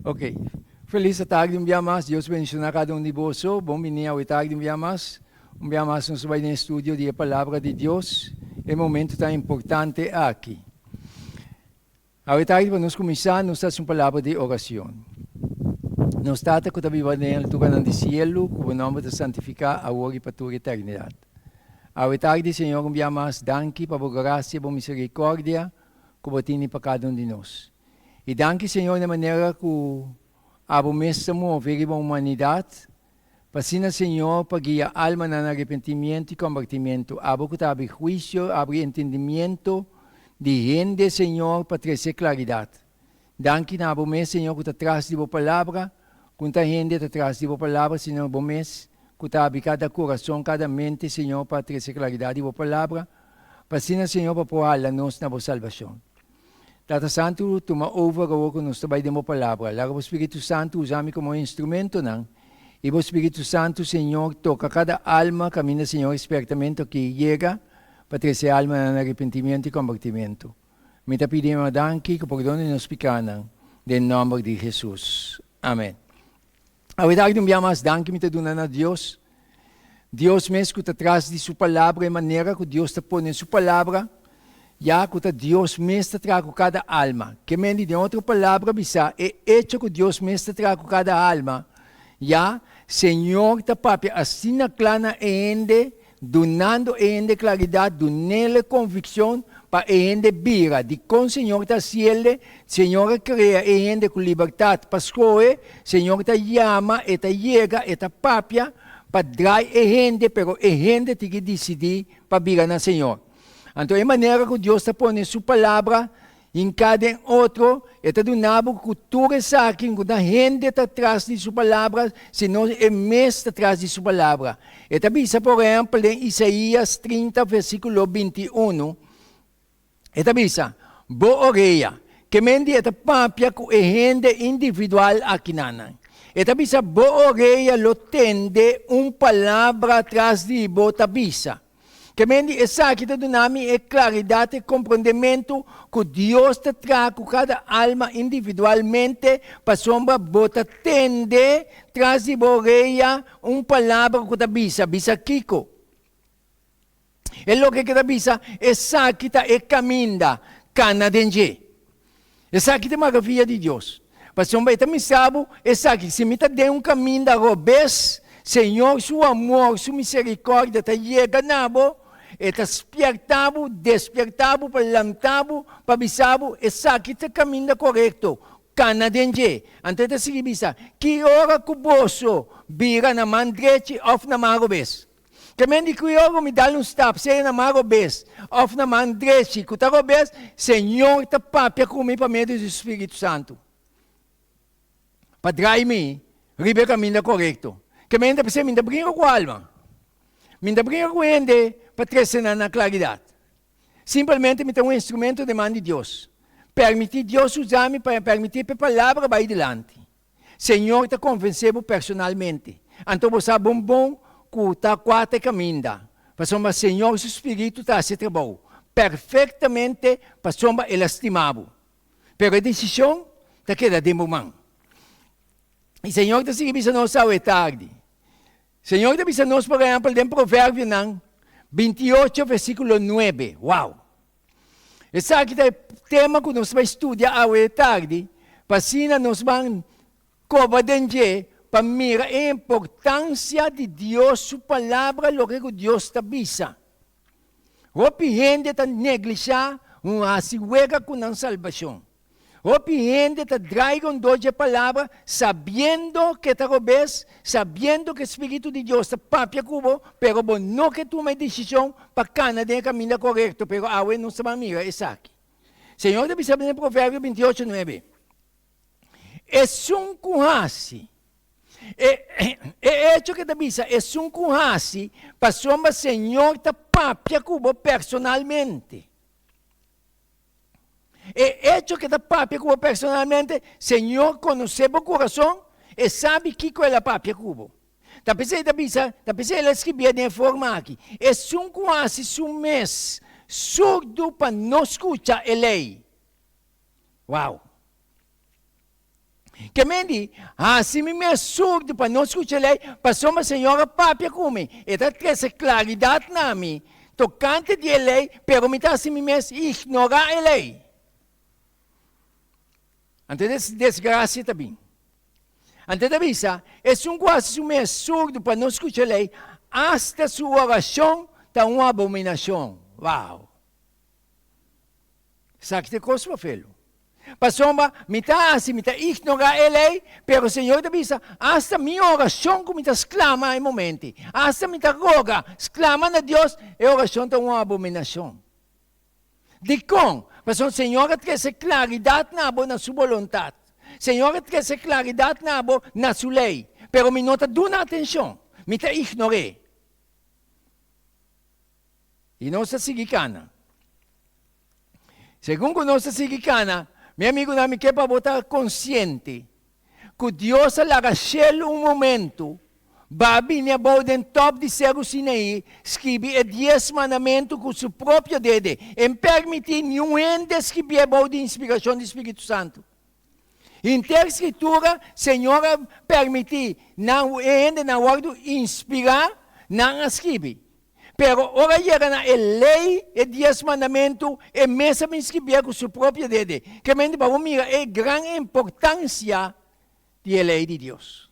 Ok. Feliz a tag di un bia mas. Dios bendiciona cada un di boso. Bon bini awe tag di un bia mas. Un bia mas nos a bai den estudio di e Palabra di Dios. E momento tan importante aki. Awe tag di pa nos cuminsa nos ta haci un palabra di oracion. Nos Tata cu ta biba den alturannan di cielo, cu bo nomber ta santifica awor y pa tur eternidad. Awe tag di Señor un bia mas danki pa bo gracia, bo misericordia, ku bo tene pa kada un di nos. I danki, Señor, na manera ku abo mes ta move riba humanidat, pa asina, Señor, pa guia almanan na arepentimiento i kombertimentu, abo ku ta abri huisio, abri entendimiento di hende, Señor, pa trese klaridat. Danki na bo mes Señor ku ta tras di bo palabra, ku n'ta hende ta tras di bo palabra sino bo mes ku ta abri kada kurason, kada mente Señor pa trese klaridat di bo palabra, pa asina Señor pa por hala nos na bo salbashon. Tata Santu tuma over awor ku nos ta bai den bo palabra, laga bo Spiritu Santu usa mi komo e instrumentonan, i bo Spiritu Santu Señor toka kada alma kaminda Señor e spertamentu aki yega pa trese almanan na aripentimentu i kombertimentu. Mi ta pidi Mamá danki cu por perdona di nos picanan, den nomber di Jesús. Amén. Awedag di un bia mas danki mi ta duna na Dios, Dios mes cu ta tras di su Palabra, e manera cu Dios ta pone su Palabra, ya cu ta Dios mes ta traha cu cada alma. Ke men di den otro palabra bisa, e hecho cu Dios mes ta traha cu cada alma, ya Señor ta papia asina cla na e hende, Dunando e hende klaridat, dunele konvikshon pa e hende bira di kon Señor ta hasi elde, Señor a krea e hende ku libertat pa skohe, Señor ta yama, E ta yega, E ta papia pa drai e hende, pero e hende tin ki disidí pa bira na Señor. Anto e manera ku Dios ta pone Su Palabra Hinká den otro, e ta duna bo ku tur esaki ku na hende ta tras di su palabra, sino e mes ta tras di su palabra. E ta bisa, por ehèmpel, den Isaías trinta versíkulo binti unu, e ta bisa, Bo orea, ke men di e ta papia ku e hende individual akinanan? E ta bisa, Bo orea lo tende un palabra tras di bo ta bisa. Ke men di esaki ta duna mi e klaridat, e komprondementu ku Dios ta traha ku kada alma individualmente pasobra bo ta tende tras di bo oreya un palabra ku ta bisa, Bisa kiko? E loke ke ta bisa, Esaki ta e kaminda, kana den dje. Esaki ta maka fia di Dios. Pasobra e ta mester bo esaki, Si mi ta den un kaminda robes, Señor, su amor, su misericordia ta yega na bo, e ta spierta bo, despierta bo, pa lanta bo, pa bisa bo, Esaki ta kaminda corecto, cana den dje. Anto e ta sigui bisa, Ki ora cu boso bira na man drechi of na man robes? Kemen di kriogo mi dal un stap, sea na man robes of na man drechi ku ta robes, Señor ta papia ku mi pa medio di su Spiritu Santu pa drai mi riba e kaminda korekto. Kemen ta p'esei mi ta bringa ku alma, mi ta bringa ku hende pa trese nan na klaridat. Simpelmente mi ta un instrumento den man di Dios. Permití Dios usa mi pa permití p'e palabra bai dilanti. Señor ta convence bo personalmente. Anto bo sa bon bon cu ta cua ta e caminda, pasobra Señor su Spiritu ta haci e trabou perfectamente pasobra El a stima bo. Pero e decision ta keda den bo man. Y Señor ta sigui bisa nos awe tardi. Señor ta bisa nos, por ehempel, den Proverbionan binti ocho versiculo nuebe. Wow! Esaki ta e tema ku nos bai studia awe e tardi, pa asina nos ban koba den dje pa mira e importansia di Dios su Palabra, loke ku Dios ta bisa. Hopi hende ta neglishá un hasi wega ku nan salbashon. Hopi hende ta draiga un dos dje palabra sabiendo ke ta robes, sabiendo ke spiritu di Dios ta papia ku bo, pero bo no ke tuma e desishon pa kana den e kaminda korekto, pero awe nos ta ban mira esaki. Señor ta bisa den Proverbio bintiyocho nuebe, Esun ku hasi, e e echo ke ta bisa esun ku hasi pasobra Señor ta papia ku bo personalmente. E echo ke ta papia ku bo personalmente, Señor konosé bo kurason, E sabi kiko El a papia ku bo. Ta p'esei ta bisa, ta p'esei El a skibié den e forma aki, Esun ku hasi su mes surdu pa no skucha E lei. Wow! Ke men di, Hasi mi mes surdu pa no skucha lei, pasobra Señor a papia ku mi, e ta trese klaridat na mi tokante di e lei, pero mi ta hasi mi mes ignorá e lei. Anto es desgrasia ta bin. Anto e ta bisa, Esun ku hasi su mes surdu pa no skucha lei, asta su orashon ta un abominashon. Wow! Esaki ta e kos pafelu. Pasobra mi ta hasi, mi ta ignorá e lei, pero Señor ta bisa, Asta mi oracion cu mi ta sclama e momenti, asta mi ta roga, sclama na Dios, e oracion ta un abominacion. Dicon? Pasobra Señor a trece claridad na bo na su boluntad. Señor a trece claridad na bo na su lei, pero mi no ta duna atencion, mi ta ignor'é. Y nos ta sigui cana. Segun ku nos ta sigui kana, mi amigunan, mi ke pa bo ta konsiente ku Dios a laga shel un momentu bai a bini abou den top di Seru Sinaí skibi e Dies Mandamentu ku su propio dede, e no permití niun hende skibié abou di inspirashon di spiritu santu. Henter Skritura, Señor a permití nan, e hendenan wòrdu inspirá, nan a skibi. Pero ora a yega na e Lei, e Dies Mandamentu, e mes a miskí bia ku su propio dede. Kementi bo a mira e gran importansia di e Lei di Dios.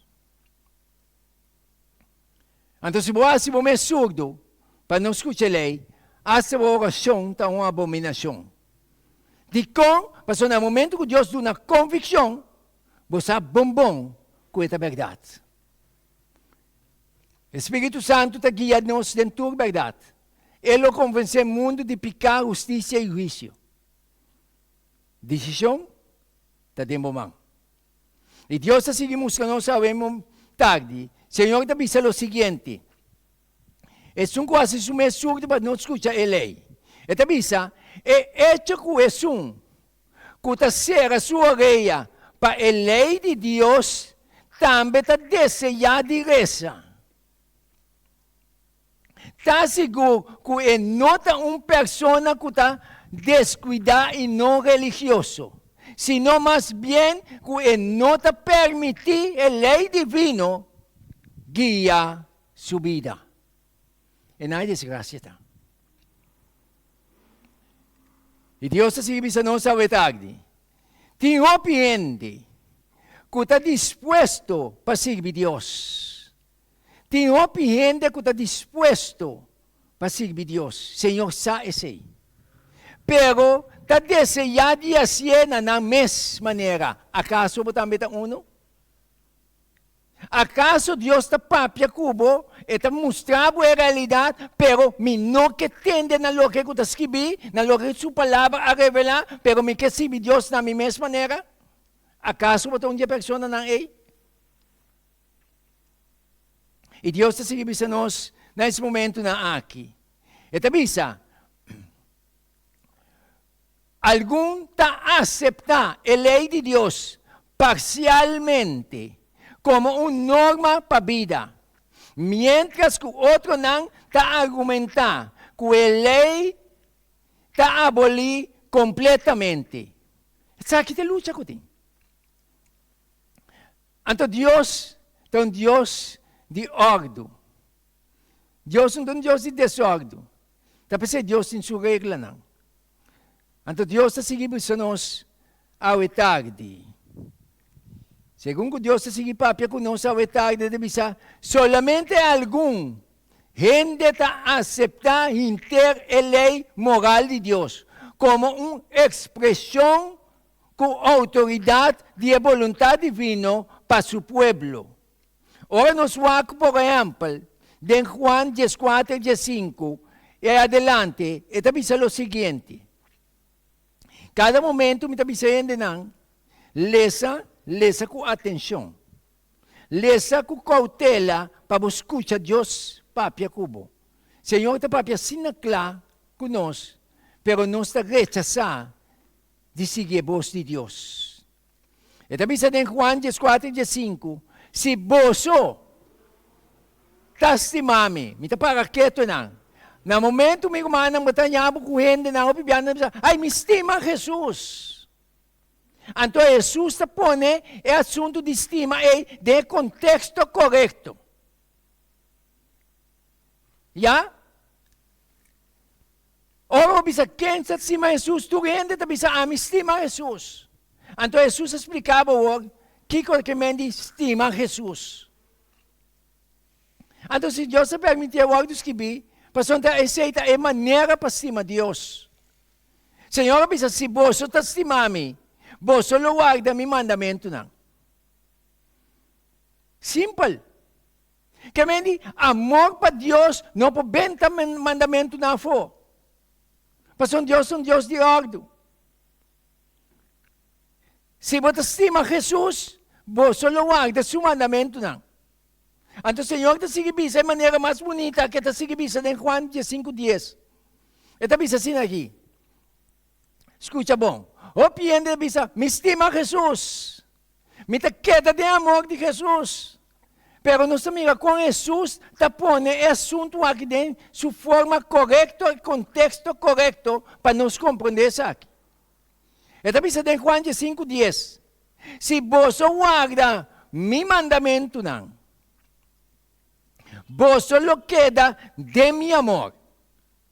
Anto si bo hasi bo mes surdu pa no skucha e Lei, asta bo orashon ta un abominashon. Dikon? Pasobra na e momentu ku Dios duna konvikshon, bo sa bon bon ku e ta bèrdat. E Spiritu Santu ta guia nos den tur berdad. E lo konvensé mundu di piká, hustisia i huisio. Disishon ta den bo man. I Dios ta sigui mustra nos awe mo tardi. Señor ta bisa lo siguiente, Esun ku hasi su mes surdu pa no skucha e lei. E ta bisa, E echo ku esun. ku ta sera su oreya pa e lei di Dios tambe ta deseá di resa. Ta sigur ku e no ta un persona ku ta deskuidá i no religioso, sino mas bien ku e no ta permití e lei divino guia su bida. E nan e desgracia ta. Y Dios ta sigui bisa nos awet akdi. Tin hopi hende ku ta dispuesto pa sirbi Dios. Tin hopi hende ku ta dispuesto pa sirbi Dios. Señor sa esei. Pero ta deseá di hasié na nan mes manera. Akaso bo tambe ta unu? Akaso Dios ta papia ku bo? E ta mustra bo e realidat, pero mi no ke tende na loke ku ta skibi, na loke ku su Palabra a revelá, pero mi ke sirbi Dios na mi mes manera? Akaso bo ta un di e personanan ei? I Dios ta sigui bisa nos na es momentunan aki. E ta bisa. Algun ta aseptá e lei di Dios parsialmente komo un norma pa bida, miéntras ku otronan ta argumentá ku e lei ta abolí kompletamente. Esaki ta e lucha ku tin. Anto Dios ta un Dios di òrdu. Dios no ta un Dios di desòrdu. Ta p'esei Dios tin su reglanan. Anto Dios ta sigui bisa nos awe tardi. Segun ku Dios ta sigui papia ku nos awe tardi, e ta bisa, Solamente algun hende ta aseptá hinter e lei moral di Dios, komo un ekspreshon ku outoridat di e boluntat divino pa su pueblo. Ora nos wak por ehèmpel den Juan dieskuater diesinku i adelante, e ta bisa lo siguiente, Kada momentu mi ta bisa hendenan, Lesa, lesa ku atenshon. Lesa ku koutela pa bo skucha Dios papia ku bo. Señor ta papia asina kla ku nos, pero nos ta rechasá di sigui e bos di Dios. E ta bisa den Juan dies kuater i dies sinku, Si boso ta stima mi, mi ta para ketu nan. Na momentu mi rumannan bo ta ña bo ku hendenan, hopi biaha nan ta bisa, Ai, mi stima Hesus! Anto Hesus ta pone e asuntu di stima ei den e konteksto korekto. Ya? Ora bo bisa, Ken ta stima Hesus? Tur hende ta bisa, Ami stima Hesus. Anto Hesus a spliká bo awor kiko ta kem'é di stima Hesus. Anto si Dios ta permití e wòrdu skirbí, pasobra esei ta e manera pa stima Dios. Señor a bisa, Si boso ta stima mi, boso lo warda mi mandamentunan. Simpel! Ke men di amor pa Dios no por benta mandamentunan afó, pasobra Dios ta un Dios di òrdu. Si bo ta stima Hesus, bo so lo warda su mandamentunan. Anto Señor ta sigui bisa e manera mas bunita ke ta sigui bisa den Juan diesinku dies. E ta bisa asina aki, Skucha bon, hopi hende ta bisa, Mi stima Hesus, Mi ta keda den amor di Hesus. Pero nos ta mira kon Hesus ta pone e asuntu aki den su forma korekto i konteksto korekto pa nos komprondé esaki. E ta bisa den Juan diesinku dies, Si boso warda mi mandamentunan, boso lo keda den mi amor,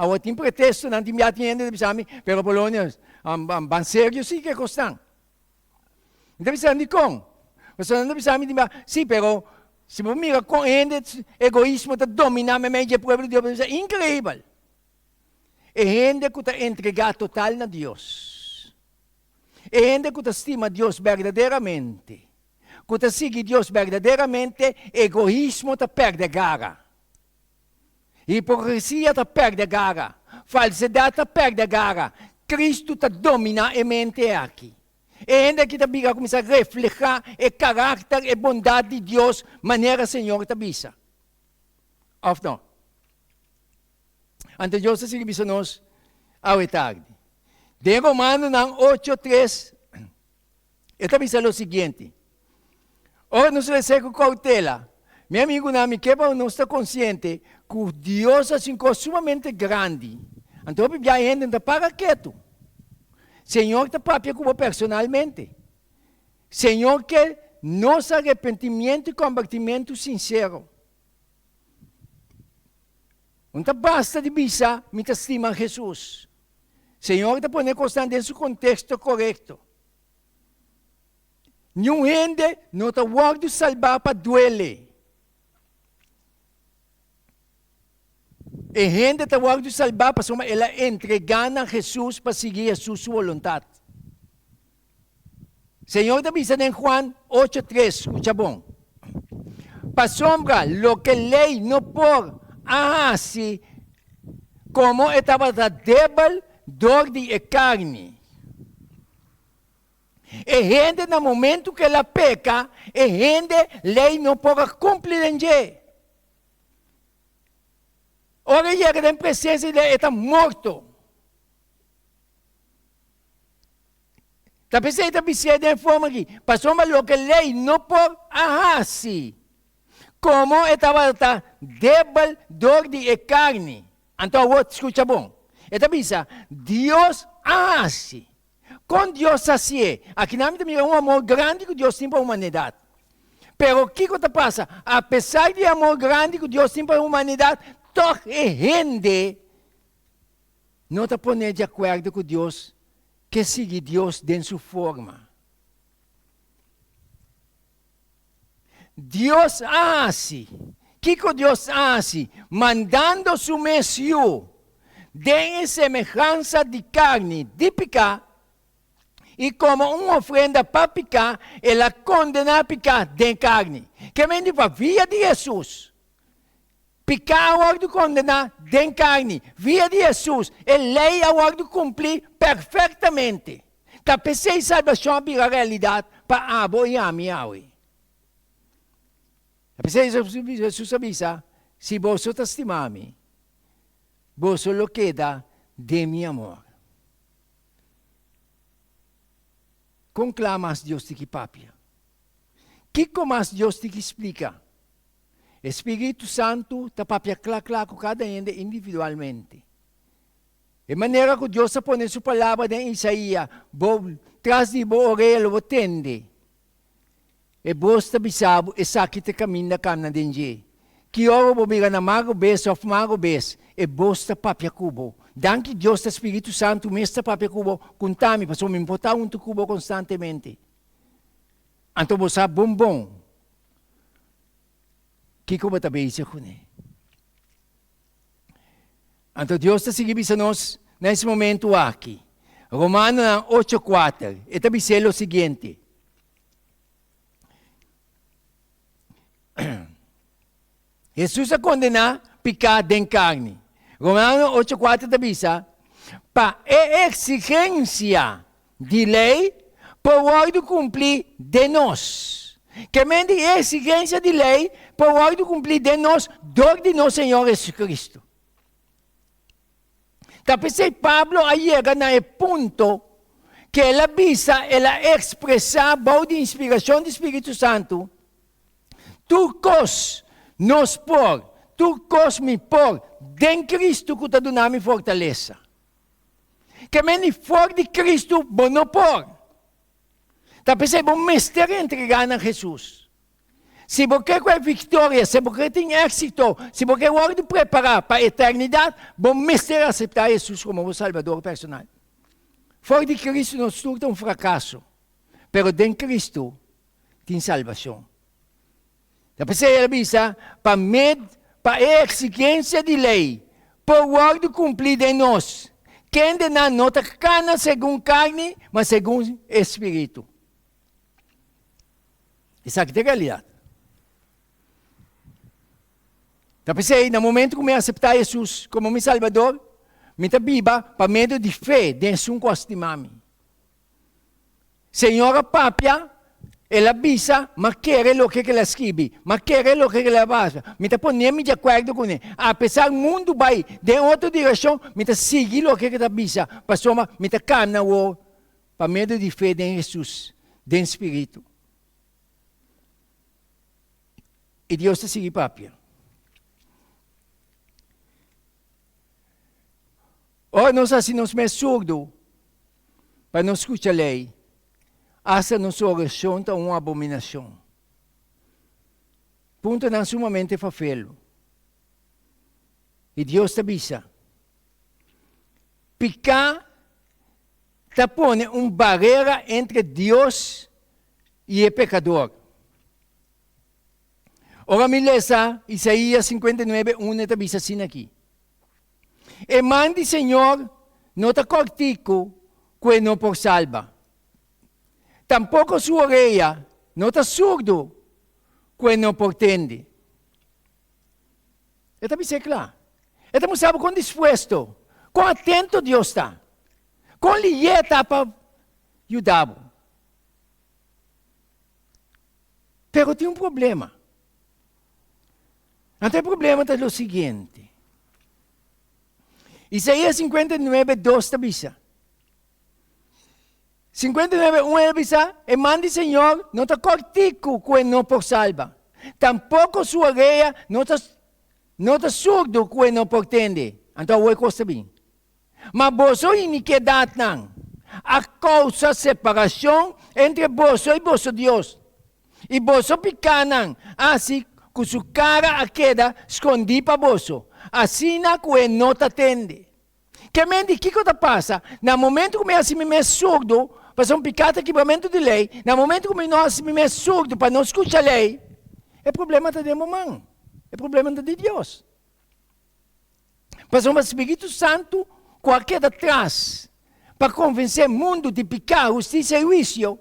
Awo tin pretesto, nan tin bia tin hende ta bisa mi, pero Polonios, ban serio si ke kos nan? Mi ta bisa nan dikon? Pasobra nan ta bisa mi tin bia, si, pero si bo mira kon hende egoismo ta dominá meimei dje pueblo di Dios bo ta bisa inkreibel. E hende ku ta entregá total na Dios, e hende ku ta stima Dios berdaderamente, ku ta sigui Dios berdaderamente, egoismo ta pèrdè gara. Hipokresia ta pèrdè gara, falsedad ta pèrdè gara, Kristu ta dominá e mente aki. E hende aki ta bira kuminsá reflehá e karakter, e bondat di Dios, manera Señor ta bisa. Òf no? Anto Dios ta sigui bisa nos awe tardi. Den Romanonan ocho tres, E ta bisa lo siguiente, Ora nos resé ku koutela, mi amigunan, mi ke pa ku nos ta konsiente ku Dios a hasi un kos sumamente grandi. Anto hopi bia hende no ta para ketu. Señor ta papia ku bo personalmente. Señor ke nos arepentimiento i kompartimentu sinsero. No ta basta di bisa, Mi ta stima Jesus. Señor ta pone cosnan den su contexto corecto. Niun hende no ta wordo salba pa duele. E hende ta wordo salba pasobra el a entrega na Jesus pa sigui Jesus su voluntad. Señor ta bisa den Juan ocho tres, Scucha bon, pasobra loke ley no por a haci, como e tabata debel dor di e carni. E hende na momento cu el a peca, e hende ley no por a cumpli den dje. Ora e yega den presencia di Ley, e ta morto. Ta p'esei e ta bisié den e forma akí, pasobra loke lei no por a hasi, komo e tabata ta debel dor di e karni. Anto awor, skucha bon. E ta bisa, Dios a hasi. Kon Dios sa si'é? Akí nan mi ta mira un amor grandi ku Dios tin pa humanidat. Pero kiko ta pasa? Apesar di e amor grandi ku Dios tin pa humanidat, tòg e hende. no ta pone di akuerdo ku Dios ke sigui Dios den su forma. Dios a hasi. Kiko Dios a hasi? Mandando su mes Yu den e semehansa di karni di piká, i komo un ofrenda pa piká el a kondená piká den karni. Ke men di pa via di Hesus Picá a wordo condená den carni, via di Hesus, e ley a wordo cumplí perfectamente. Ta pesey salbacion a bira realidad pa abo y ami awe. Ta pesey Hesus a bisa, Si boso ta stima mi, boso lo keda den mi amor. Con cla mas Dios tin ki papia? Kico mas Dios tin ki splica E spiritu santu ta papia kla kla ku kada hende individualmente. E manera ku Dios a pone su palabra den Isaia, Bo tras di bo orea lo bo tende. E bos ta bisa bo, Esaki ta kaminda kana den dje. Ki ora bo bira na magro bes òf magro bes, e bos ta papia ku bo. Danki Dios ta spiritu santu mes ta papia ku bo, kunta mi, pasobra mi por ta huntu ku bo konstantemente. Anto bo sa bon bon. Kiko bo ta bezig ku ne? Anto Dios ta sigui bisa nos na es momentu aki. Romanonan ocho kuater, e ta bis'é lo siguiente, Hesus a kondená piká den karni. Romano ocho kuater ta bisa, Pa e eksigensia di lei por wòrdu kumplí den nos. Ke men di e eksigensia di lei por wòrdu kumplí den nos dor di nos Señor Hesus Kristu. Ta p'esei Pablo a yega na e punto ku el a bisa, el a ekspresá bou di inspirashon di spiritu santu, Tur kos nos por, tur kos mi por den Kristu ku ta duna mi fortalesa. Ke mende for di Kristu bo no por. Ta p'esei bo mester reentrega na Hesus. Si bo ke ku e viktoria, si bo ke tin éksito, si bo ke wòrdu prepará pa eternidat, bo mester aseptá Hesus komo bo Salbador personal. For di Kristu nos tur ta un frakaso, pero den Kristu tin salbashon. Ta p'esei el a bisa, Pa med pa e eksigensia di lei por wòrdu kumplí den nos, kendenan no ta kana segun karni, ma segun e Spiritu. Esaki ta e realidat. Ta p'esei, na momentu ku mi aseptá Hesus komo mi Salbador, mi ta biba pa medio di fe den Su Unko a stima mi. Señor a papia, el a bisa, m'a kere loke k'el a skibi, m'a kere loke k'el a basa, mi ta pone mi di akuerdo kune, apesar mundu bai den otro direkshon, mi ta sigui loke k'e ta bisa, pasobra mi ta kana wou pa medio di fe den Hesus, den Spiritu. I Dios ta sigui papia. Ora nos hasi nos mes surdu. pa no skucha lei, asta nos orashon ta un abominashon. Puntonan sumamente fafelu. I Dios ta bisa, Piká ta pone un barera entre Dios i e pekador. Ora mi lesa Isaías sinkuenta i nuebe unu e ta bisa asina akí. E man di Señor no ta kòrtiku ku e no por salba, tampoko su oreya no ta surdu ku e no por tende. E ta bis'é kla. E ta mostraba kon dispuesto, kon atento Dios ta, kon liyé e ta pa yuda bo. Pero tin un problema. Anto e problema ta lo siguiente. Isaías 59, 2 ta bisa. 59, 1 ta bisa, e man di Señor no ta cortico cu e no por salba, tampoco su orea no ta, no ta surdo cu e no por tende. Anto awor e cos ta bin. Ma boso inikedadnan a kousa separashon entre boso i boso Dios, i boso pikánan a hasi ku su kara a keda skondí pa boso, asina ku e no ta tende. Ke men di kiko ta pasa na momentu ku mi hasi mi mes surdu pa son piká ta kibramentu di lei, na momentu ku mi no hasi mi mes surdu pa no skucha lei? E problema ta den bo man, e problema no ta di Dios. Pasobra Spiritu Santu ku a keda tras pa konvensé mundu di piká, hustisia i huisio,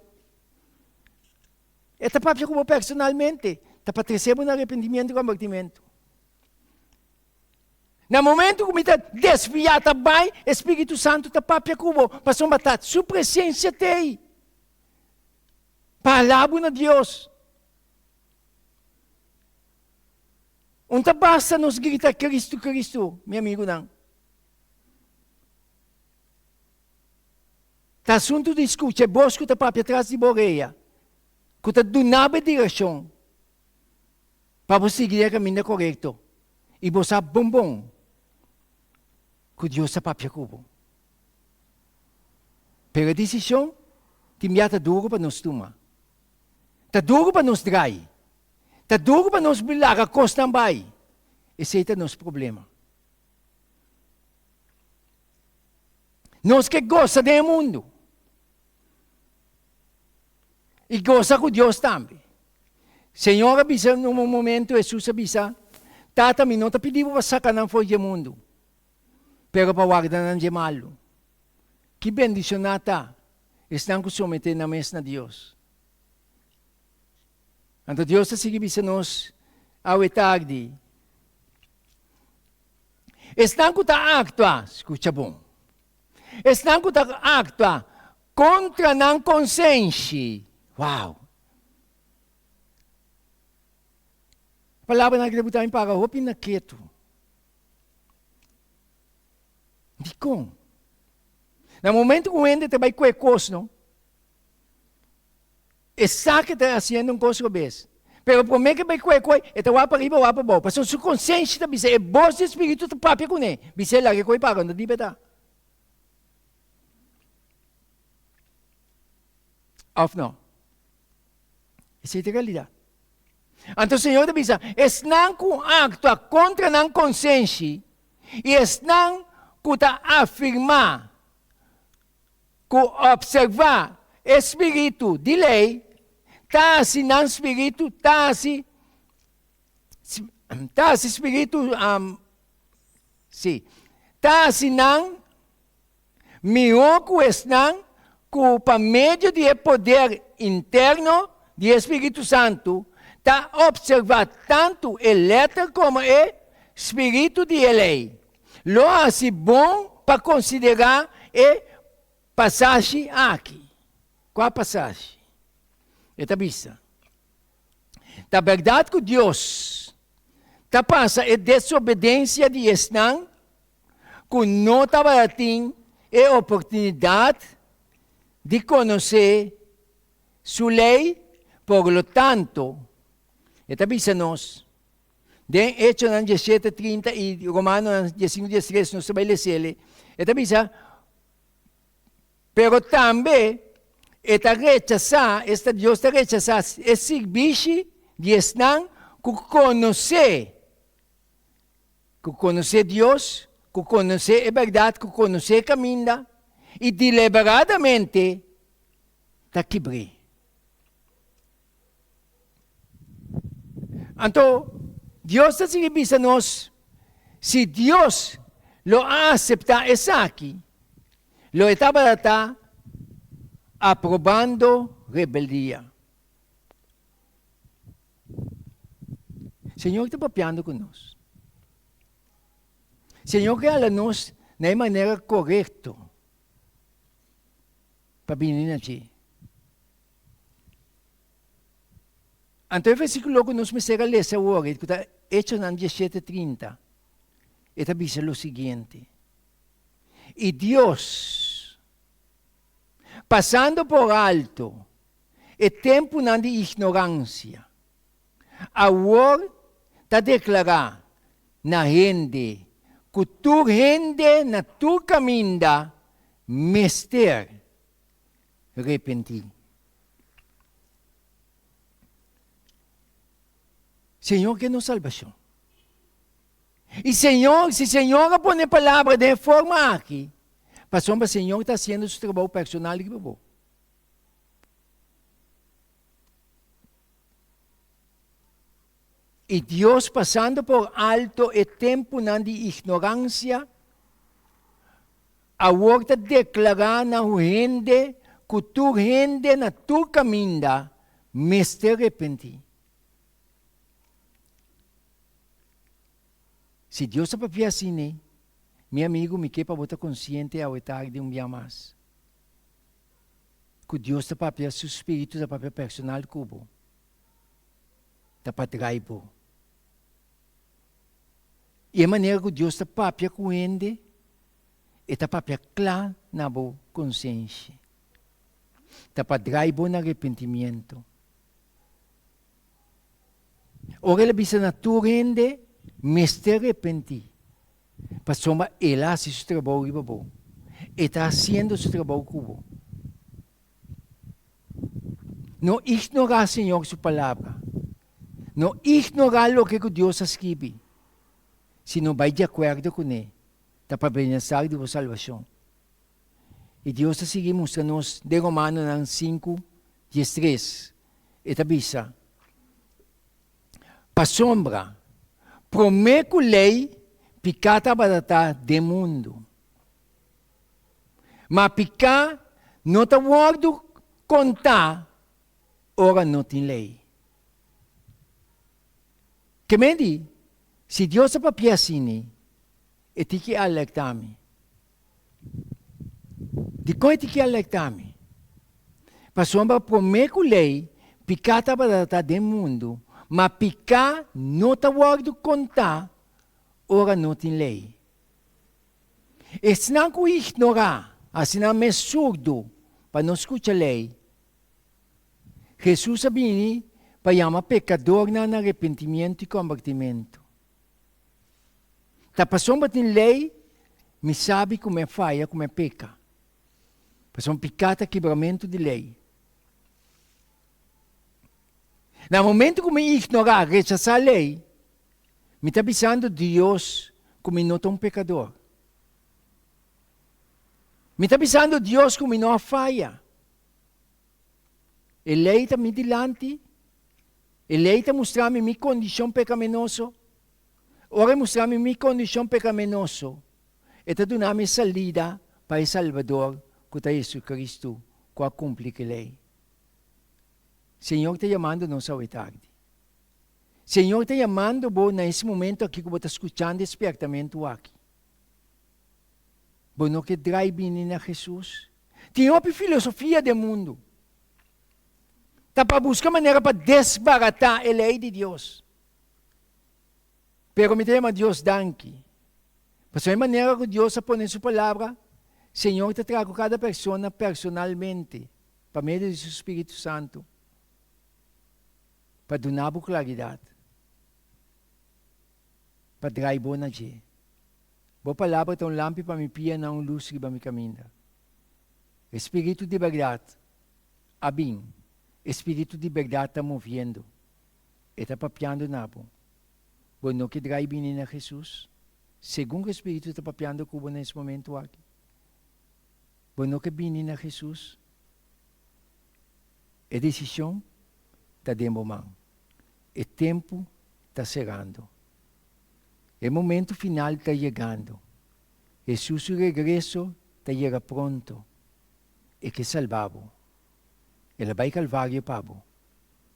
e ta papia ku bo personalmente, ta pa trese bo na arepentimentu i konvertimentu. Na momentu ku mi ta desviá ta bai, e Spiritu Santu ta papia ku bo, pasobra ta Su presensia ta ei pa hala bo na Dios. Un ta basta nos grita Cristo, Cristo, mi amigunan. Ta asuntu di scucha e bos cu ta papia tras di bo oreya, cu ta duna bo e direccion pa bo sigui den e caminda corecto y bo sa bon bon cu Dios ta papia cu bo. Pero e decision tin bia ta duro pa nos tuma. Ta duro pa nos draai. Ta dur ku pa nos bai laga kosnan bai. Esei ta nos problema. Nos ke gosa den e mundu. I gosa ku Dios tambe. Señor a bisa na un momento, Hesus a bisa, Tata, mi no ta pidi bo pa saka nan for dje mundu, pero pa warda nan dje malu. Ki bendishoná ta esnan ku someté nan mes na Dios! Anto Dios ta sigui bisa nos, Awe tagdi, esnan ku ta aktua, skucha bon, esnan ku ta aktua kontra nan konsenshi, wow, palabranan akí ta botá mi paga hopi na ketu. Dikon? Na momentu ku hende ta bai kue kos no. Esaki ta hasiendo un kos robes. Pero promé ke bai kue koi, e ta wak pariba, wak pabou, pasobra su konsenshi ta bisa, e bos di Spiritu ta papia kuné, bis'é, Laga e koi pa rond'e diba e ta. Òf nò? Esei ta realidat. Anto Señor ta bisa, esnan ku aktua kontra nan konsenshi i esnan ku ta afirmá. ku opservá e spiritu di lei ta hasi nan spiritu ta hasi ta hasi spiritu si ta hasi nan mihó ku esnan ku pa medio di e poder interno di e spiritu santu ta opservá tantu e lèter komo e spiritu di e lei. Lo hasi bon pa konsiderá e pasashi aki. Kua pasashi? E ta bisa, Ta bèrdat ku Dios ta pasa e desobedensia di esnan ku no tabata tin e oportunidat di konosé Su lei, por lo tanto, e ta bisa nos, Den Hechonan diesshete trinta i Romanonan diesinku dies tres, nos ta bai lesa eli, e ta bisa, Pero tambe e ta rechasá, esta Dios ta rechasá e sirbishi di esnan ku konosé, ku konosé Dios, ku konosé e bèrdat, ku konosé e kaminda i deliberadamente ta kibr'é. Anto, Dios ta sigui bisa nos, Si Dios lo a aseptá esaki, lo e tabata ta aprobando rebeldia. Señor ta papiando cu nos. Señor ke hala nos na e manera korekto pa bini na dje. Anto e versíkulo ku nos mester a lesa awor, e ku ta Hechonan diesshete trinta, e ta bisa lo siguiente, I Dios, pasando por alto e tempunan di ignoransia, awor ta deklará na hende ku tur hende na tur kaminda mester repentí. Señor ke nos salbashon. I Señor, si Señor a pone palabra den e forma aki, pasobra Señor ta hasiendo su trabou personal riba bo. I Dios pasando por alto e tempunan di ignoransia, Awor ta deklará na un hende ku tur hende na tur kaminda mester repentí. Si Dios ta papia asina, mi amigu, mi ke pa bo ta konsiente awe tardi un bia mas ku Dios ta papia, su spiritu ta papia personal ku bo, ta pa trai bo. I e manera ku Dios ta papia ku hende E ta papia cla na bo consenshi. Ta pa drai bo na repentimiento. Ora el a bisa na tur hende, mester repenti, pasobra el a haci su trabou riba bo. E ta haciendo su trabou cu bo. No ignora Señor su palabra. No ignora loke cu Dios a scribi, sino bai di acuerdo cu ne ta pa bini na sak di bo salbashon. I Dios ta sigui mustra nos den Romanonan sinku, dies tres, e ta bisa, Pasobra, promé ku lei, piká tabata ta den mundu. Ma piká no ta wòrdu kontá ora no tin lei. Ke men di, Si Dios a papia asini, e tin ki a lekta mi. Dikon e tin ki a lekta mi? Pasobra promé ku lei, piká tabata ta den mundu, ma piká no ta wòrdu kontá ora no tin lei. Esnan ku ignorá, asina mes surdu pa no skucha lei, Hesus a bini pa yama pekadornan na arepentimiento i kombertimentu. Ta pasobra bo tin lei, mi sabi ku mi a faya, ku mi a peka. Pasobra piká ta kibramentu di lei. Na momentu ku mi ignorá, rechasá lei, mi ta bisando Dios ku mi no ta un pekador. Mi ta bisando Dios ku mi no a faya. E lei ta mi dilanti, e lei ta mustra mi mi kondishon pekamenoso. Ora e mustra mi mi kondishon pekamenoso, e ta duna mi e salida pa e Salbador ku ta JesuCristu ku a kumpli ku e lei. Señor ta yamando nos awe tardi. Señor ta yamando bo na es momento aki ku bo ta skuchando e spièrtamentu aki. Bo no ke drai bini na Jesus, Tin hopi filosofia den mundu ta pa buska manera pa desbaratá e lei di Dios. Pero mi ta yama Dios danki, pasobra e manera ku Dios a pone su Palabra, Señor ta traha ku kada persona personalmente pa medio di su Spiritu Santu pa duna bo klaridat. pa drai bo na dje. Bo palabra ta un lampi pa mi pia na un lus riba mi kaminda. E Spiritu di bèrdat a bin, e Spiritu di bèrdat ta moviendo, e ta papiando na bo. Bo no ke drai bini na Hesus, segun ku e Spiritu ta papiando ku bo na es momentu aki? Bo no ke bini na Hesus? E desishon ta den bo man. E tempu ta serando. E momentu final ta yegando. Hesus su regreso ta yega pronto. E ke salba bo. El a bai Kalvario pa bo,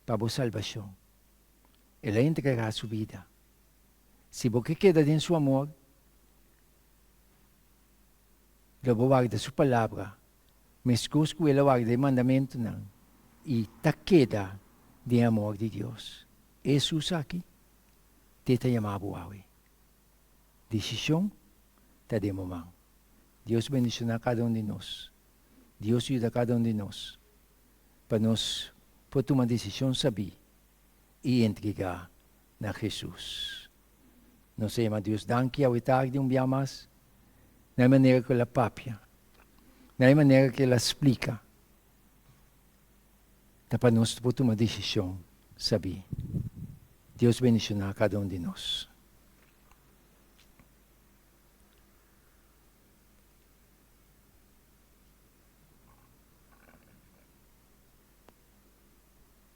pa bo salbashon. El a entrega su bida. Si bo ke keda den su amor, lo bo warda su palabra mescos cu el a wak den e mandamentonan y ta keda den amor di Dios. E Jesús aki t'e ta yama bo awe. Decision ta den bo man. Dios bendiciona cada un di nos. Dios yuda cada un di nos pa nos por tuma decision sabi y entrega na Hesus. Nos a yama Dios danki awe tardi un bia mas, na e manera ku el a papia, na e manera ku el a splika, ta pa nos por tuma desishon sabí. Dios bendishoná kada un di nos.